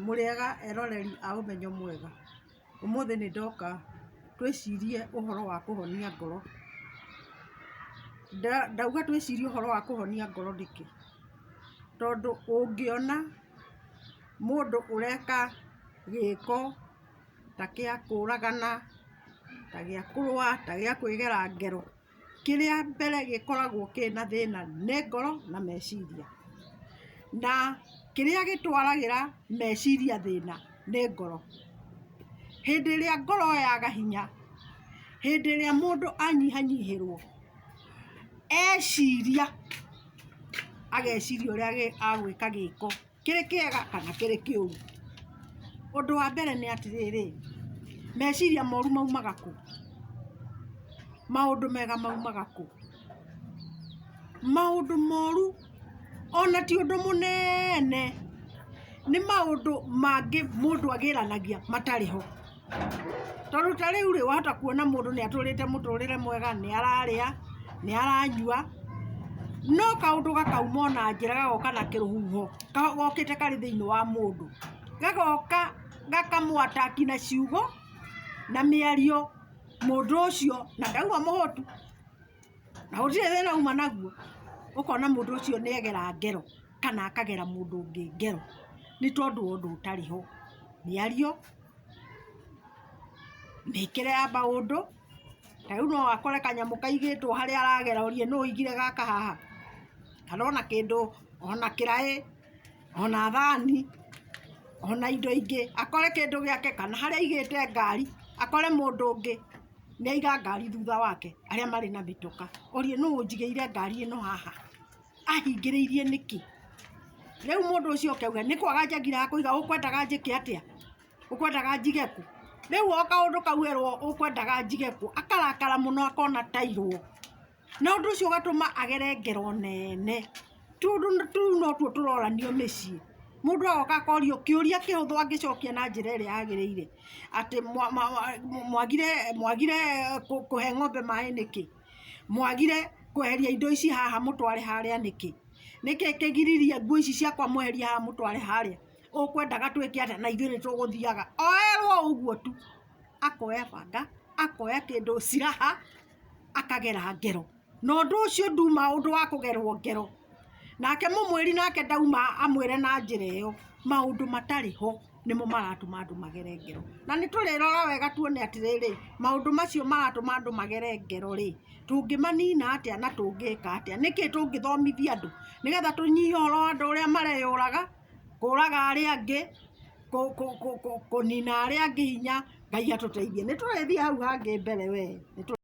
Mũrĩega eroreri a ũmenyo mwega, ũmũthĩ nĩ ndoka twĩcirie ũhoro wa kũhonia ngoro. Ndauga twĩcirie ũhoro wa kũhonia ngoro nĩkĩ? Tondũ ũngĩona mũndũ ũreka gĩko ta gĩa kũragana, ta gĩa kũrũa, ta gĩa kwĩgera ngero. kĩrĩa mbere gĩkoragwo kĩna thĩna nĩ ngoro na meciria, na kĩrĩa gĩtwaragĩra meciria thĩna nĩ ngoro. Hĩndĩ ĩrĩa ngoro yaga hinya, hĩndĩ ĩrĩa mũndũ anyihanyihĩrwo eciria ageciria ũrĩa agwĩka gĩko. kĩrĩ kĩega kana kĩrĩ kĩũru. Ũndũ wa mbere nĩ atĩrĩrĩ, meciria moru maumaga kũ? Maũndũ mega maumaga kũ? Maũndũ moru ona ti ũndũ mũnene, nĩ maũndũ mangĩ mũndũ agĩranagia matarĩ ho. Tondũ ta rĩu rĩ, wahota kuona mũndũ nĩ atũrĩte mũtũrĩre mwega, nĩ ararĩa, nĩ aranyua, no kaũndũ gakauma o na njĩra gagoka na kĩrũhuho gokĩte karĩ thĩinĩ wa mũndũ, gagoka gakamũ attack na ciugo na mĩario mũndũ ũcio na ndauma mũhũtu. na gũtirĩ thĩna uma naguo, ũkona mũndũ ũcio nĩ agera ngero kana akagera mũndũ ũngĩ ngero nĩ tondũ wa ũndũ ũtarĩ ho, mĩario, mĩkĩre ya maũndũ, ta rĩu no akore kanyamũ kaigĩtwo harĩa aragera ũrie nũ ũigire gaka haha, kana ona kĩndũ, ona kĩraĩ. ona thani, ona indo ingĩ, akore kĩndũ gĩake kana harĩa aigĩte ngari akore mũndũ ũngĩ nĩ aiga ngari thutha wake arĩa marĩ na mĩtũka, orie nũ ũnjigĩire ngari ĩno haha? Ahingĩrĩirie nĩkĩ? Rĩu mũndũ ũcio oke auge nĩ kwaga njagĩraga kũiga, ũkwendaga njĩke atĩa? ũkwendaga njige kũ? Rĩu o kaũndũ kau erwo ũkwendaga njige kũ akarakara mũno akona atairwo. Na ũndũ ũcio ũgatũma agere ngero nene. Tondũ tũu notuo tũroranio mĩciĩ. Mũndũ agoka akorio kĩũria kĩhũthũ angĩcokia na njĩra ĩrĩa yagĩrĩire, atĩ mwagire mwagire kũhe ng'ombe maĩ nĩkĩ? Mwagire kweheria indo ici haha mũtware harĩa nĩkĩ? Nĩkĩ kĩgiririe nguo ici ciakwa mweherie haha mũtware harĩa? Ũkwendaga twĩke atĩa na ithuĩ nĩ tũgũthiaga? Oerwo o ũguo tu. Akoya banga, akoya kĩndũ ciraha. akagera ngero, na ũndũ ũcio nduma ũndũ wa kũgerwo ngero, nake mũmwĩri nake ndauma amwĩre na njĩra ĩyo, maũndũ matarĩ ho nĩmo maratũma andũ magere ngero, na nĩ tũrĩrora wega tuone atĩrĩrĩ, maũndũ macio maratũma andũ magere ngero rĩ, tũngĩmanina atĩa na tũngĩka atĩa, nĩkĩ tũngĩthomithia andũ, nĩgetha tũnyihie ũhoro wa andũ ũrĩa mareyũraga, kũraga arĩa angĩ, kũ kũ kũ kũnina arĩa angĩ hinya, Ngai atũteithie, nĩ tũrĩthiĩ hau hangĩ mbere wee.